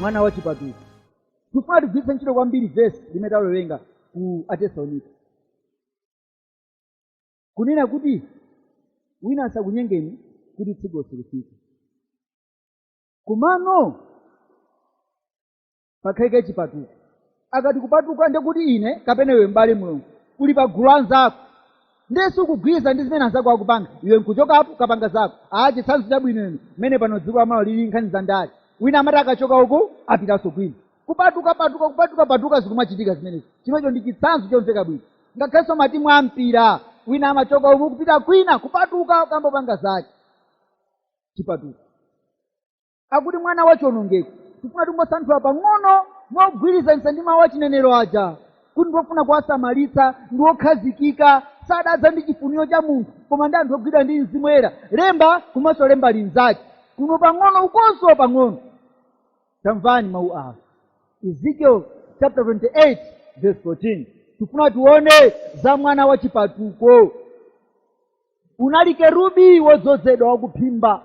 mwana wa chipatuko tifuna tigwiritse ntchito kwambiri vesi limene tawerenga ku atesalonika kunena kuti wina asakunyengeni kuti tsiku silifika komano pakhalike chipatuko akati kupatuka ndiye kuti ine kapena iwe m'bale mulungu uli pa gulu la anzako ndiye sukugwirizana ndi zimene anzako akupanga iwe nkuchokapo kapanga zako aa chitsanzo chabwino inu mmene pano dziko la malawi lili nkhani za ndale wina amati akachoka uku apitanso kwina kupatuka patuka kupatuka patuka zikumachitika zimenezi chimenecho ndi chitsanzo chomveka bwino ngakhalenso matimu a mpira wina amachoka uku kupita kwina kupatuka kukapanga zake chipatuka akuti mwana wa chionongeko tifuna tingosanthula pang'ono mogwirizanitsa ndi mawu achinenero aja kuti ndi ofuna kuwasamalitsa ndi wokhazikika sadadza ndi chifuniro cha munthu koma ndi anthu ogwidwa ndi mzimu woyera lemba komanso lemba linzake kuno pang'ono ukonso pang'ono tamvani mawu awa ezekiel chapter 28 verse 14 tifuna tione za mwana wa chipatuko unali kerubi wodzozedwa wakuphimba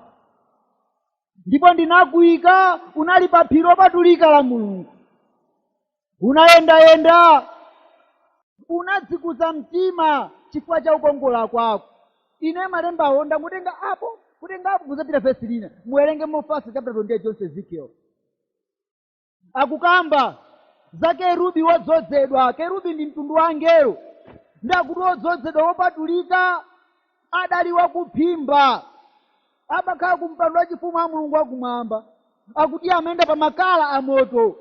ndipo ndinakuika unali pa phiri lopatulika la mulungu unayendayenda unadzikuza mtima chifukwa cha ukongola kwako ine malembawo ndangotenga apo kutenga apo kuzapita vesi lina muwerenge mofasa chapter 28 chonse ezekiel akukamba za kerubi wodzozedwa kerubi ndi mtundu wa angelo ndiye akuti wodzozedwa wopatulika adali wakuphimba amakhala ku mpando wachifumu wa mulungu wakumwamba akuti amayenda pa makala a moto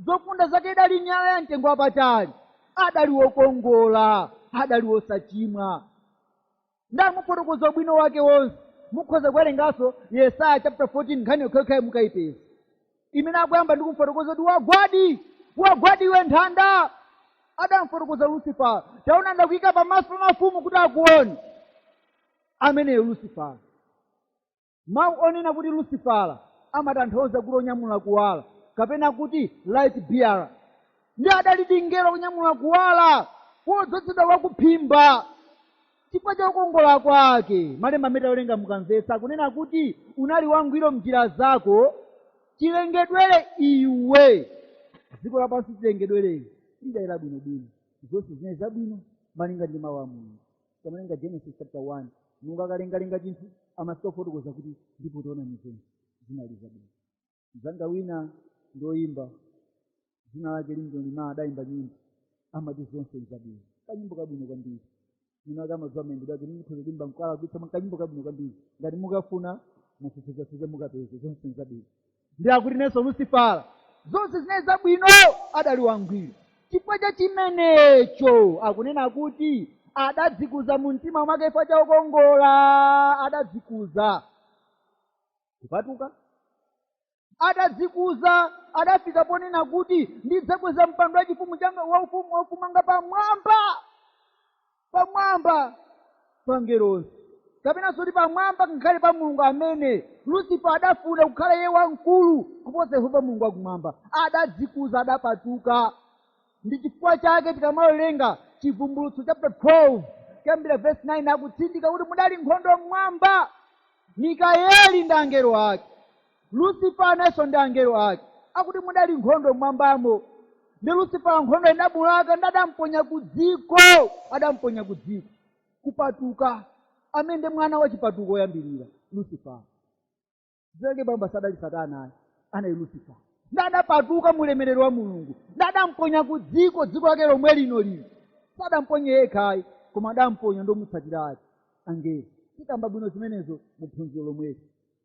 zofunda zake idali miyala ya mtengo wapatali adali wokongola adali wosachimwa adamufotokoza ubwino wake wonse mukhoza kuwerenganso yesaya chapter 14 nkhani yokhayokhayi mukayipeza imene akuyamba ndi kumfotokoza kuti wagwadi wagwadi iwe nthanda adamfotokoza lusifala taona ndakuyika pamaso pa mafumu kuti akuone ameneyo lusifala mawu onena kuti lusifala amatanthauza kuti onyamula kuwala kapena kuti light bearer ndiye adalidi mngelo onyamula kuwala wodzozedwa wakuphimba chifukwa cha ukongola kwake malemba amene tawerenga mukamvetsa akunena kuti unali wangwiro mnjira zako chilengedwere iwe dziko lapansi chilengedwere lidayera bwinobwino zonse zinali zabwino malinga ndi mawu a mulungu tikamawerenga genesis chapter 1 mulungu akalengalenga chinthu amafika kufotokoza kuti ndipo tiona kuti zonse zinali zabwino mzanga wina ndoyimba dzina lake limdoni ma adayimba nyimbo amati zonse zabwino kanyimbo kabwino kwambiri mwina ena amadziwa mayimbidwe ake ndikhoza kuimba mkala kutsa kanyimbo kabwino kwambiri ngati mukafuna mufufuzefufuze mukapeze zonse zabwino ndiye akuti nayenso lusifala zonse zinali zabwino adali wangwiro chifukwa cha chimenecho akunena kuti adadzikuza mu mtima mwake chifukwa cha ukongola adadzikuza kupatuka adadzikuza adafika ponena kuti ndidzakweza mpando wachifumu wanga waufumu waufumu wanga pamwamba pamwamba pa angelo onse kapenanso kuti pamwamba ngakhale pa mulungu amene Lucifer adafuna kukhala iye wamkulu kuposa yehova mulungu wakumwamba adadzikuza adapatuka ndi chifukwa chake tikamawerenga chivumbulutso chapter 12 kuyambira verse 9 akutsindika kuti mudali nkhondo mmwamba mikayeli ndi angelo ake Lucifer nayenso ndi angelo ake akuti mudali nkhondo mmwambamo ndiye Lucifer nkhondo idamulaka nde adamponya ku dziko adamponya ku dziko kupatuka ameneyu ndi mwana wa chipatuko woyambirira Lucifer uja poyamba sadali satana ayi anali Lucifer nde adapatuka mulemerero wa mulungu nde adamponya ku dziko dziko lake lomwe lino lino sadamponye yekha ayi koma adamponya ndi omutsatira ake angelo tikamba bwino zimenezo mu phunziro lomweli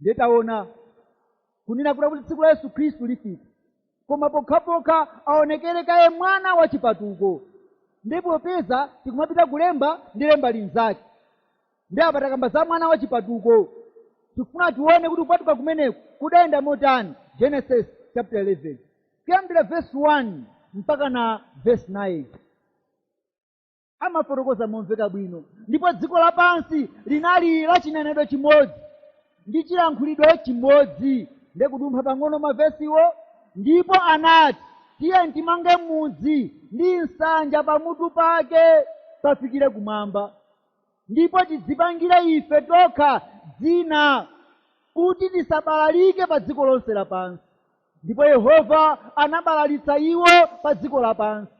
ndiye taona kunena kuti kuti tsiku la yesu khristu lifika koma pokhapokha aonekere kaye mwana wa chipatuko ndiye popeza tikumapita kulemba ndi lemba linzake ndiye apa takamba za mwana wa chipatuko tikufuna tione kuti kupatuka kumeneku kudayenda motani genesis chapter 11 kuyambira verse 1 mpaka na verse 9 amafotokoza momveka bwino ndipo dziko lapansi linali la chinenedwe chimodzi ndi chilankhulidwe chimodzi nde kudumpha pang'ono mavesiwo ndipo anati tiye timange mudzi ndi nsanja pamutu pake pafikire kumwamba ndipo tidzipangire ife tokha dzina kuti tisabalalike pa dziko lonse lapansi ndipo yehova anabalalitsa iwo pa dziko lapansi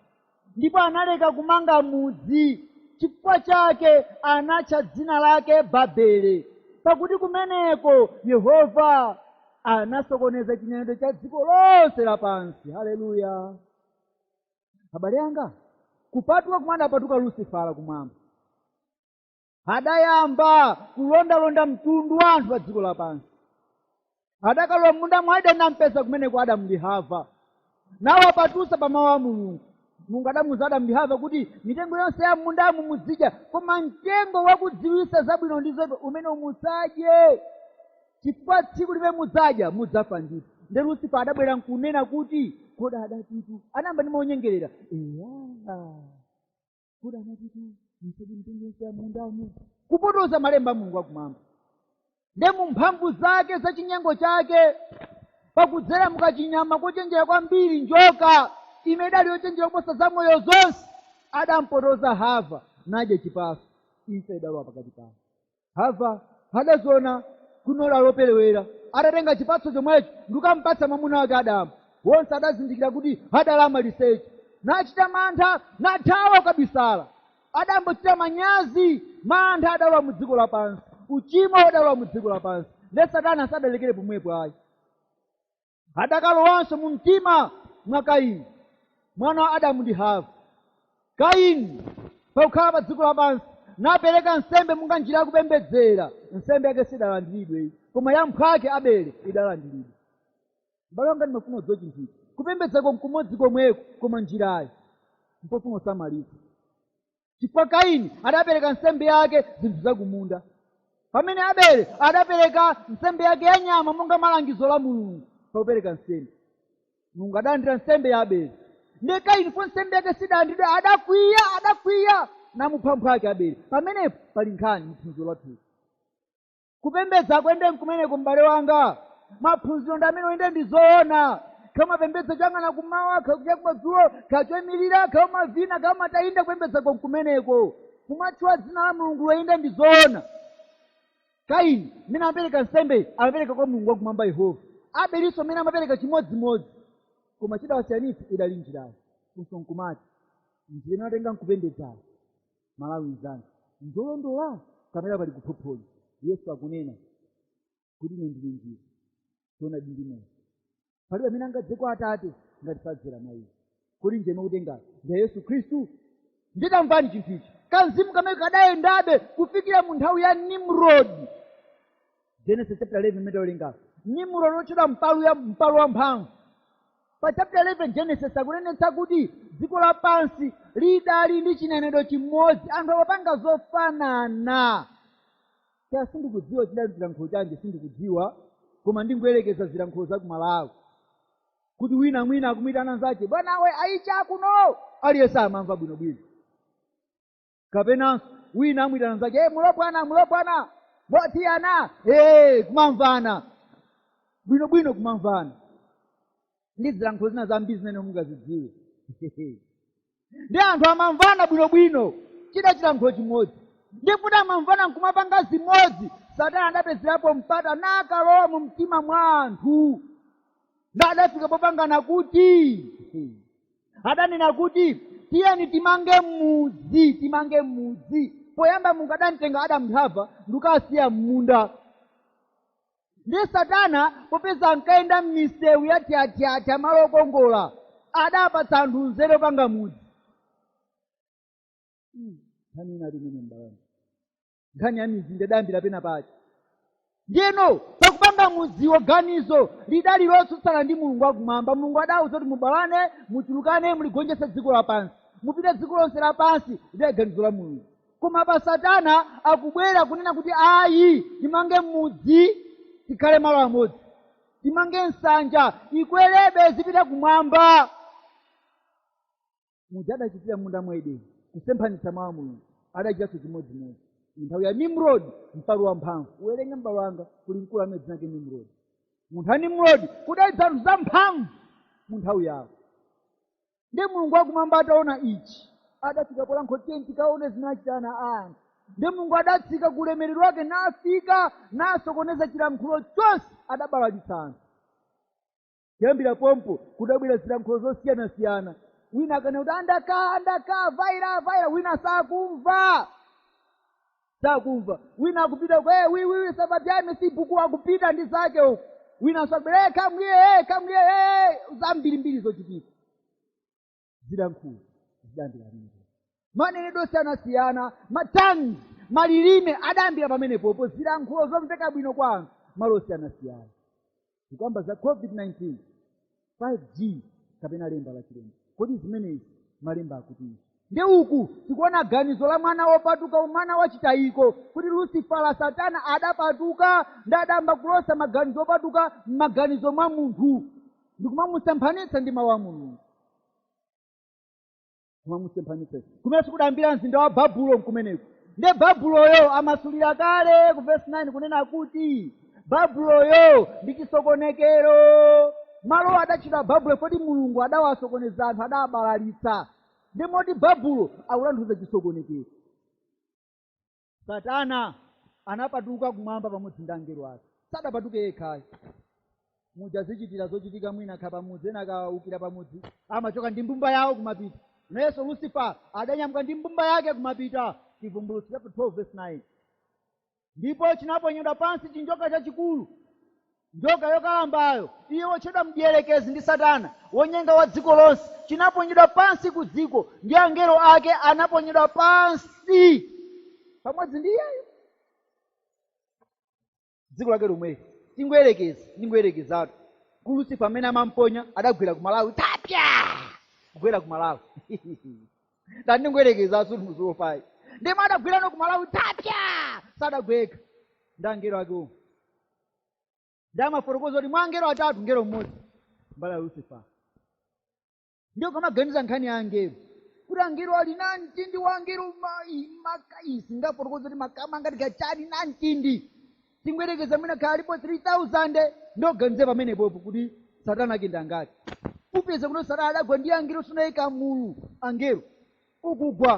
ndipo analeka kumanga mudzi chifukwa chake anatcha dzina lake babele pakuti kumeneko yehova anasokoneza chinenedwe cha dziko lonse lapansi haleluya abale anga kupatuka komwe adapatuka lusifala kumwamba adayamba kulondalonda mtundu wa anthu pa dziko lapansi adakalowa m'munda mwa ideni nampeza kumeneko adamu ndi hava nawapatutsa pa mawu a mulungu mulungu adamuza adamu ndi hava kuti mitengo yonse ya m'mundamu muzidya koma mtengo wakudziwitsa zabwino ndi zoipa umene musadye chifukwa tsiku limene mudzadya mudzafa ndithu nde lusifa adabwera nkunena kuti kodi adatitu anayamba ndi manyengerera eya kodi anatitu musadye mitengo yonse ya mundamu kupotoza malemba a mulungu akumwamba nde mu mphamvu zake za chinyengo chake pakudzera mukachinyama kochenjera kwambiri njoka imene idali yochenjera kuposa za moyo zonse adampotoza hava nadya chipatso imfa idalowa pakati pawo hava adaziona kunola loperewera adatenga chipatso chomwecho ndikukampatsa mwamuna wake adamu wonse adazindikira kuti adali amaliseche nachita mantha nathawa kukabisala adayamba kuchita manyazi mantha adalowa mu dziko lapansi uchimo udalowa mu dziko lapansi nde satana sadalekere pomwepo ayi adakalowanso mu mtima mwa kaini mwana wa adamu ndi hava kaini pakukhala pa dziko lapansi napereka nsembe monga njira yakupembedzera nsembe yake sidalandiridwe koma ya mphwake abele idalandiridwa mbale wanga ndimafuna udziwe chinthu ichi kupembedzako nkumodzi komweko koma njirayo mpofuna usamalitsa chifukwa kaini adapereka nsembe yake zinthu zakumunda pamene abele adapereka nsembe yake ya nyama monga mwa langizo la mulungu pakupereka nsembe mulungu adalandira nsembe ya abele ndiye kaini po nsembe yake sidalandiridwe adakwiya adakwiya namupha mphwake abele pamenepo pali nkhani mphunziro lathuli kupembedza kwende nkumeneko m'bale wanga maphunziro ndi amene oyende ndi zoona kaya umapembedza choyang'ana kumawa kaya cha kumadzulo kaya choimirira kaya umavina kaya umatani nde kupembedza nkumeneko kumatchula dzina la mulungu loyenda ndi zoona kaini mmene amapereka nsembeyi amapereka kwa mulungu wakumwamba yehova abelinso mmene amapereka chimodzimodzi koma chidawasiyanitsa idali njirayo funso nkumati njira imene watenga nkupembedzayo mmalawi mzanga ndolondola kapena pali kuphophonya yesu akunena kuti ine ndine njira choonadi ndi moyo palibe amene angadze kwa atate ngati sadzera mwa iye kodi njira ukutengayo ndi ya yesu khristu nde tamvani chinthu ichi kamzimu kamene kadayendabe kufikira mu nthawi ya nimrodi genesis chapter 11 mmene tawerengapo nimurodi otchedwa mpalu eya mpalu wamphamvu pa chapter 11 genesis akunenetsa kuti dziko lapansi lidali ndi chinenedwe chimodzi anthu amapanga zofanana kaya sindikudziwa chidali chilankhulo chanji sindikudziwa koma ndingoyerekeza zilankhulo za kumalawi kuti wina mwina akumuyitana nzache bwanawe ayiche akuno aliyense amamva bwinobwino kapenanso winanso amuyitana mnzake e mulopwana mulopwana motiyana e kumamvana bwinobwino kumamvana ndi zilankhulo zina zambiri zimene mungazidziwe ndi anthu amamvana bwinobwino chida chilankhulo chimodzi ndipo amamvana nkumapanga zimodzi satana adapezerapo mpata nakalowa mu mtima mwa anthu nadafika popangana kuti adanena kuti tiyeni timange mudzi timange mudzi poyamba mulungu adamtenga adamu ndi hava ndikuwasiya m'munda ndiye satana popeza ankayenda m'misewu yatyatyatya malo okongola adapatsa anthu nzeru yopanga mudzi Hmm, nkhani ina limene mbalani nkhani ya mizinda idayambira pena pake ndiyeno pakupanga mudziwo ganizo lidali lotsutsana ndi mulungu wakumwamba mulungu adawuza kuti mubalane muchulukane muligonjetse dziko lapansi mupite dziko lonse lapansi lidali ganizo la mulungu koma pa satana akubwera kunena kuti ayi timange mudzi tikhale malo amodzi timange nsanja ikwerebe izipita kumwamba muja adachitira m'munda mwa edeni kusemphanitsa mawu a mulungu adachitanso chimodzimodzi nthawi ya nimrod mpalu wamphamvu uwerenge m'bale wanga kuli mkulu amene dzina lake nimrod mu nthawi ya nimrod kudali zianthu zamphamvu mu nthawi yawo ndi mulungu wakumwamba ataona ichi adafika polankhula kuti tikaone zimene achita ana a anthu ndi mulungu adatsika ku ulemerero wake nafika nasokoneza chilankhulo chonse adabalalitsa anthu kuyambira pompo kudabwera zilankhulo zosiyanasiyana wina akanena kuti andaka andaka vaira vaira wina sakumva sakumva wina akupita kwa "Eh, wiwiwi sabati yami si buku akupita ndi zake uku wina akubwera "Eh, kamwiye eh, kamwiye eh, zambirimbiri zochitika zilankhulo zidayambira pamenepo manenedwe osiyanasiyana matangi malilime adayambira pamenepopo zilankhulo zomveka bwino kwa anthu malo osiyanasiyana tikamba za covid-19 5g kapena lemba la chilombo kodi zimenezi malemba akutinji nde uku tikuona ganizo la mwana wopatuka mwana wachitayiko kuti lusifala satana adapatuka ndi adayamba kulosa maganizo opatuka m'maganizo mwa munthu ndi kumamusemphanitsa ndi mawu a mulungu kumamusemphanitsa kumenekutu kudayambira mzinda wa babulo kumeneko nde babuloyo amasulira kale ku vesi 9 kunena kuti babuloyo ndi chisokonekero malowo adatchedwa babulo poti mulungu adawasokoneza anthu adawabalalitsa ndi moti babulo akutanthauza chisokonekero satana anapatuka kumwamba pamodzi ndi angelo ake sadapatuke yekhayo muja zichitira zochitika mwina akakhala pamudzi ena akawukira pamudzi amachoka ndi mbumba yawo kumapita nayenso lucifer adanyamuka ndi mbumba yake kumapita chivumbulutso chapter 12 verse 9 ndipo chinaponyedwa pansi chinjoka chachikulu Njoka yokalambayo, iye wotchedwa Mdierekezi ndi Satana, wonyenga wa dziko lonse, chinaponyedwa pansi ku dziko, ndi angelo ake anaponyedwa pansi pamodzi ndi iyeyo. Dziko lake lomweli, tingoyerekeza, ndingoyerekezatu, kuti Lucifer mmene amamponya adagwera ku Malawi, atatha kugwera ku Malawi ndati ndingoyerekeza sikuti muziwopa ayi ndimwe adagwerano ku Malawi atatha sadagwe yekha ndi angelo ake omwe ndiye amafotokoza kuti mwa angelo atatu ngelo mmodzi mbala ya lucifer ndiye ukamaganiza nkhani ya angelo kuti angelo ali na mtindi wa angelo ma- i- maka- isi ndafotokoza kuti makama ngati kachani na mtindi tingoyerekeza mwina kaya alipo 3000 ndiye uganize pamenepopo kuti satana akewo ndi angati upeza kuti satana adagwa ndi angelo sunayika mulu angelo okugwa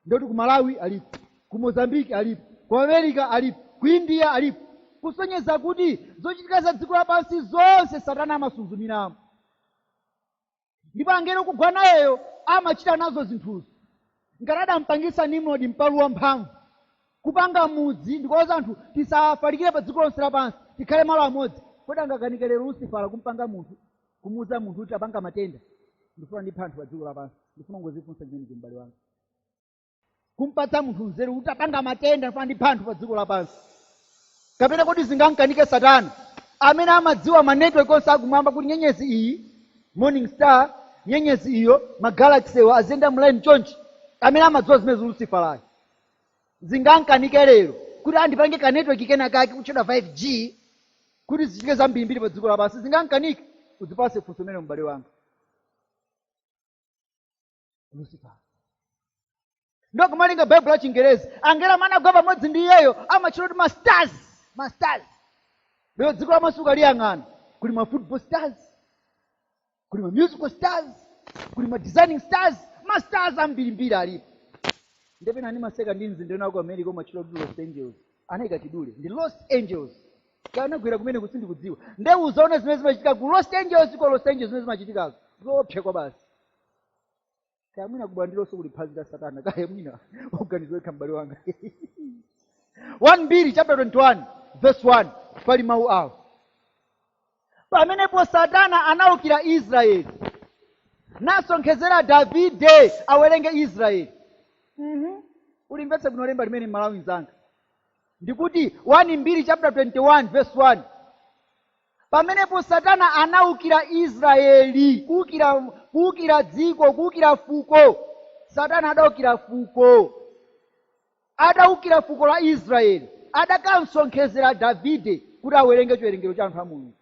Ndiye kuti ku Malawi alipo, ku Mozambique alipo, ku America alipo, ku India alipo, kusonyeza kuti zochitika za dziko lapansi zonse Satana amasuzumiramo, ndipo angelo okugwa nayeyo amachita nazo zinthuzo. Ngati adampangitsa Nimrodi mpalu wamphamvu kupanga mudzi ndikuwauza anthu tisafalikire pa dziko lonse lapansi tikhale malo amodzi, kodi angakanike lero Lusifala kumpanga munthu kumuuza munthu kuti tapanga matenda ndifuna ndiphe anthu pa dziko lapansi ndifuna ungodzifunsa chimenecho m'bale wanga kumpatsa munthu nzeru kuti tapanga matenda ndifuna ndiphe anthu pa dziko lapansi kapena kodi zingamkanike satana amene amadziwa manetwork onse akumwamba kuti nyenyezi iyi morning star nyenyezi iyo magalaxy awo aziyenda mlaini chonchi amene amadziwa zimenezi lusifalayo Zingamkanike lero kuti tandipangire ka network kena kake kotchedwa 5G kuti zichitike zambirimbiri pa dziko lapansi. Zingankanike? Udzipase funso limenelo m'bale wanga. Lucifer. Ndiye komalinga Baibulo la Chingerezi, angelo amene anagwa pamodzi ndi iyeyo amatchedwa kuti ma stars, ma stars. Lero dziko lapansi ukaliyang'ana kuli ma football stars, kuli ma musical stars kuli ma designing stars ma stars ambirimbiri alipo nde pena ndimaseka ndi mzinda wina ku america umatchulidwa kuti los angeles anayika chidule ndi los angeles kaya anagwera kumeneko sindikudziwa nde uzaona zimene zimachitika ku los angeles ku los angeles zimene zimachitikazo zoopsa kwabasi kaya mwina kubandilonso kuli phazi la satana kaya mwina uganize wekha m'bale wanga 1 mbiri chapter 21 verse 1 pali mawu awo pamenepo satana anaukira israeli nasonkhezera davide awerenge israeli Mhm. ulimvetse bwino lemba limene Mmalawi mzanga ndikuti 1 mbiri chapter 21 verse 1 Pamenepo Satana anawukira Israeli, kuwukira, kuwukira dziko, kuwukira fuko. Satana adawukira fuko, adawukira fuko la Israeli, adakamsonkhezera Davide kuti awerenge chiwerengero cha anthu a Mulungu.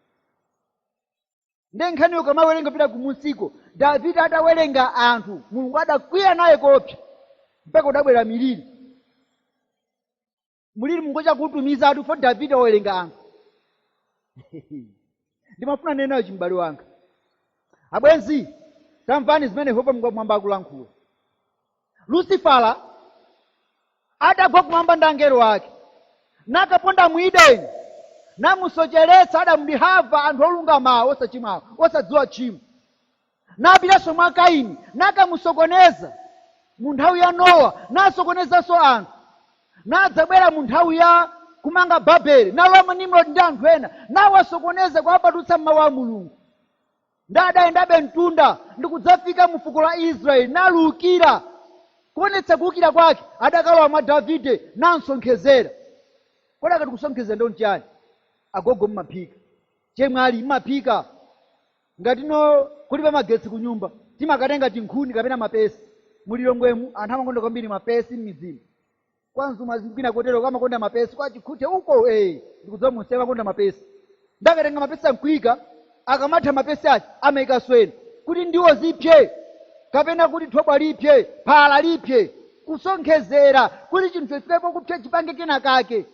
Nde nkhaniyo ukamawerenga pita kumunsiko, Davide atawerenga anthu, Mulungu adakwiya naye koopsa, mpaka udabwera miliri. mulili Mulungu atautumiza chifukwa davide owerenga anthu ndimafuna nenayo chimbale wanga abwenzi tamvani zimene yehova Mulungu wakumwamba akulankhula lusifala adagwa kumwamba ndi angelo ake nakaponda mu Edeni namusocheretsa adamu ndi hava anthu olungamawo osachimwawo osadziwa tchimo napitanso mwa Kaini nakamusokoneza mu nthawi ya Nowa, nasokonezanso anthu, nadzabwera mu nthawi ya kumanga Babele, nalowa mwa Nimrodi ndi anthu ena, nawasokoneza kuwapatutsa m'mawu a Mulungu. Ndi adayendabe mtunda ndi kudzafika mu fuko la Israeli, naluukira kuonetsa kuukira kwake, adakalowa mwa Davide namsonkhezera. Kodi akati kusonkhezera ndo nchiyani? Agogo mmaphika, chemwali mmaphika, Ngati no kulibe magetsi kunyumba, timakatenga tinkhuni kapena mapesi. Mu Lilongwemu anthu amakonda kwambiri mapesi m'midzimu. Kwa Mzumazi ndi kwina koteroko amakonda mapesi, kwa Chikhuthe uko ee! Ndikudziwa ku Ntcheu amakonda mapesi. Nde akatenga mapesi nkuika, akamatha mapesi aja amaikanso ena. Kuti ndiwo zipse kapena kuti thobwa lipse, phala lipse. Kusonkhezera kuti chinthu chifike pokupsa chipange kena kake.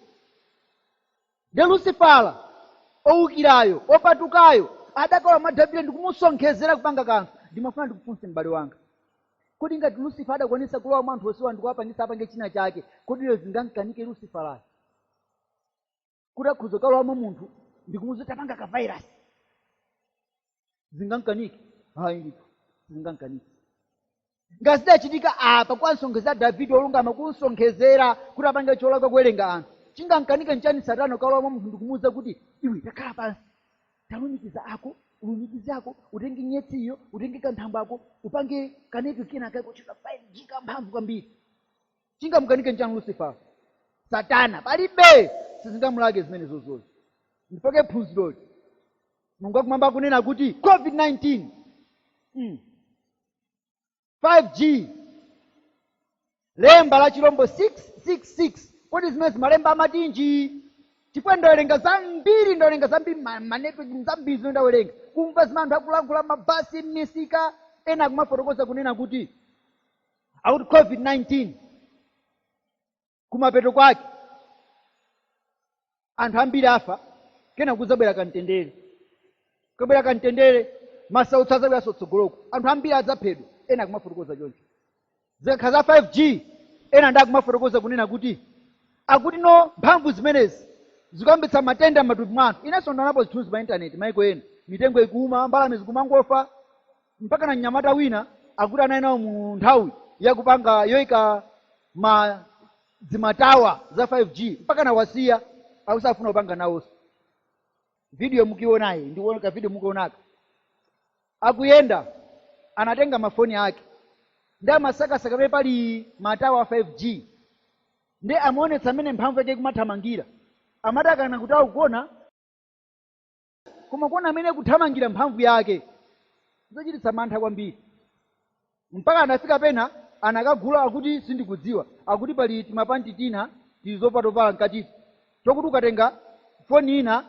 Ndiye Lusifala, owukirayo, opatukayo, adakalowa mwa Davide ndi kumusonkhezera kupanga kanthu. Ndimafuna ndikufunse m'bale wanga, kodi ngati Lusifala adakwanitsa kulowa mwa anthu onsewa ndi kuwapangitsa apange china chake, kodi lero zingamkanike Lusifalayo kuti akhoza kukalowa mwa munthu ndi kumuuza kuti tapanga kavairasi? Zingamkanike? Hayi ndithu, sizingamkanike. ngati zidachitika apa kuwasonkhezera davide olungama kumsonkhezera kuti apange cholakwa kuwerenga anthu chingamkanike nchani satana kukalowa mwa munthu ndikumuwuza kuti iwe takhala pansi talumikiza ako ulumikize ako utenge nyetsiyo utenge kanthambo ako upange kaneti kena kako ka 5G kamphamvu kwambiri chingamkanike nchani lucifer satana palibe sizingamulake zimene zozozo ndipake phunziroli mulungu wakumwamba akunena kuti covid-19 mm. 5G Lemba la chilombo 666 Kodi zimenezi malemba amatinji? Chifukwa ndawerenga zambiri, ndawerenga zambiri ma- ma network zambiri zimene ndawerenga. Kumva zimene anthu akulankhula mabasi, m'misika, ena akumafotokoza kunena kuti akuti COVID-19 kumapeto kwake anthu ambiri afa kena kuzabwera kamtendere kukabwera kamtendere masautso azabweranso tsogoloko anthu ambiri adzaphedwa ena akumafotokoza choncho zikakhala za 5g ena nde akumafotokoza kunena kuti akuti no mphamvu zimenezi zikuyambitsa matenda m'matupi mwa anthu inenso ndaonapo zithunzi pa intaneti maiko ena mitengo ikuuma mbalame zikumangofa mpaka na mnyamata wina akuti anali nawo mu nthawi yakupanga yoika mazimatawa za 5g mpaka anawasiya akusafuna kupanga nawonso video mukuionayi ndikuoneka video mukuionayi akuyenda anatenga mafoni ake nde amasakasaka pamene pali matawa a 5g nde amaonetsa mmene mphamvu yake ikumathamangira amadakana kuti akugona koma kuona mmene ikuthamangira mphamvu yake zochititsa mantha kwambiri mpaka anafika pena anakagula akuti sindikudziwa akuti pali timapanti tina tili zopatovala mkatiti tokuti ukatenga foni ina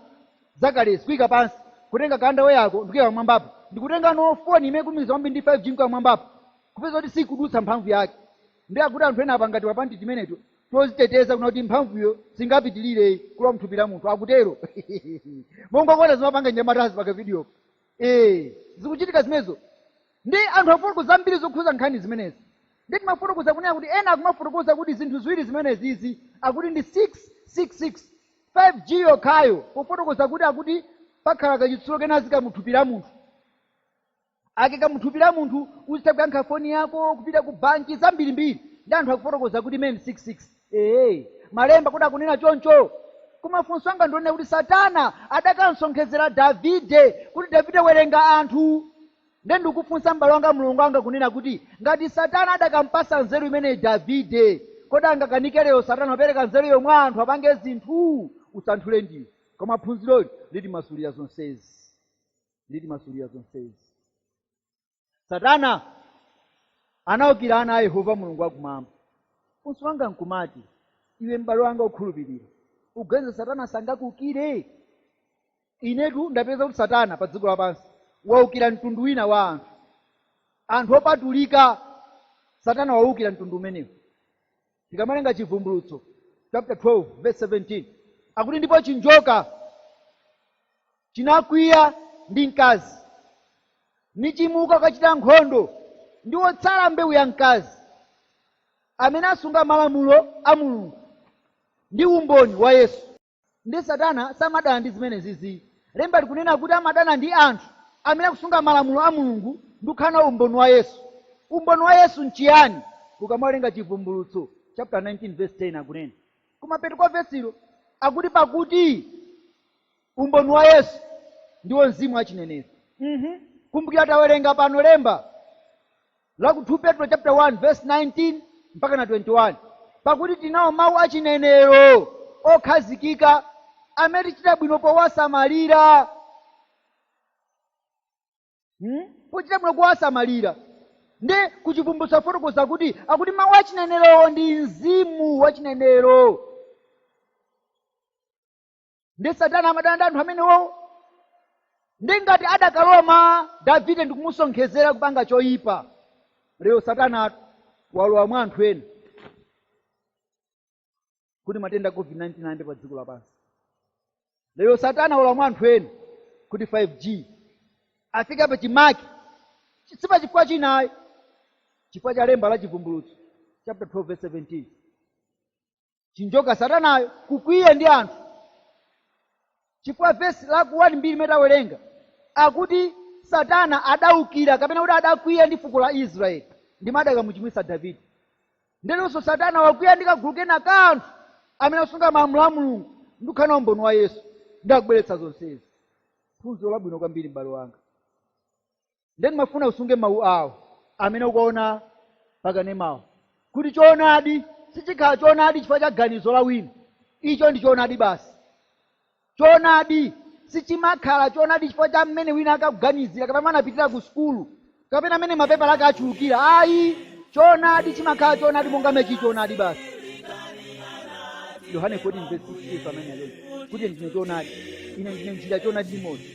zakale sikuika pansi kutenga ka underwear yako ndikuika mwambapo ndikutengano foni imene ikulumikiza kwambiri ndi 5 g mkuika mwambapo kupeza kuti sikudutsa mphamvu yake nde akuti anthu ena apanga timapanti timeneto toziteteza kunena kuti mphamvuyo singapitilire kulowa mthupi la munthu akutero monga mukuona zimapanga mnyamatazi pa kavideo eh zikuchitika zimenezo nde anthu afotokoza zambiri zokhuza nkhani zimenezi nde ndimafotokoza kunena kuti ena akumafotokoza kuti zinthu ziwiri zimenezi izi akuti ndi 666 5g yokhayo pofotokoza kuti akuti pakhala kachitsulo kena aziika muthupi la munthu akaika muthupi la munthu uzitha kuyankha foni yako kupita ku banki zambirimbiri nde anthu akufotokoza kuti imene ndi 66 ee malemba kodi akunena choncho koma funso langa ndilonena kuti satana adakamsonkhezera davide kuti davide werenga anthu nde ndikufunsa m'bale wanga mlongo wanga kunena kuti ngati satana adakampasa nzeru imeneyi davide kodi angakanike lero satana kupereka nzeruyo mwa anthu apange zinthu usanthule ndiwe koma phunziroli litimasulira zonsezi litimasulira zonsezi satana anaukira ana a yehova mulungu wakumwamba funso langa nkumati iwe m'bale wanga okhulupirira uganiza satana sangakuukire inetu ndapeza kuti satana pa dziko lapansi waukira mtundu wina wa anthu anthu opatulika satana waukira mtundu umenewu Tikamawerenga Chivumbulutso chapter 12 verse 17 akuti ndipo chinjoka chinakwiya ndi mkazi nichimuka kukachita nkhondo ndi otsala mbewu ya mkazi amene asunga malamulo a mulungu ndi umboni wa yesu Nde satana samadana ndi zimenezizi. Lemba likunena kuti amadana ndi anthu amene akusunga malamulo a Mulungu ndi kukhala nawo umboni wa Yesu. Umboni wa Yesu n'chiyani? Ukamawerenga Chivumbulutso chaputa 19 vesi 10 akunena. Kumapeto kwa vesilo akuti pakuti umboni wa Yesu ndiwo mzimu wa chinenero. Mhm. Kumbukira tawerenga pano lemba la ku 2 petro chapter 1 verse 19 mpaka na 21 pakuti tinawo mawu a chinenero okhazikika amene tichita bwino powasamalira hmm? pochita bwino kuwasamalira ndi ku chivumbulutso afotokoza kuti akuti mawu a chinenerowo ndi mzimu wa chinenero ndi satana amadana ndi anthu amenewowo ndi ngati adakalowa mwa davide ndikumusonkhezera kupanga choyipa lero satana walowa mwa anthu ena kuti matenda a covid-19 ayambe pa dziko lapansi lero satana walowa mwa anthu ena kuti 5g afika pa chimake si pa chifukwa china ayi chifukwa cha lemba la chivumbulutso chapter 12 verse 17 chinjoka satanayo kukwiya ndi anthu chifukwa vesi la ku 1 mbiri imene tawerenga akuti satana adaukira kapena kuti adakwiya ndi fuko la israeli ndimo adakamuchimwitsa davide nde leronso satana wakwiya ndi kagulu kena ka anthu amene asunga malamulo a mulungu ndi kukhala nawo umboni wa yesu nde akubweretsa zonsezi phunziro labwino kwambiri m'bale wanga nde ndimafuna usunge mawu awo amene ukuona pakanemawo kuti choonadi sichikhala choonadi chifukwa cha ganizo la wina icho ndi choonadi basi choonadi sichimakhala choonadi chifukwa cha mmene wina akuganizira kapena mmene anapitira ku sukulu kapena mmene mapepala ake achulukira ayi choonadi chimakhala choonadi monga mmene chili choonadi basi yohane 14 verse 6 amene alonso kuti ndine choonadi ine ndine njira choonadi limodzi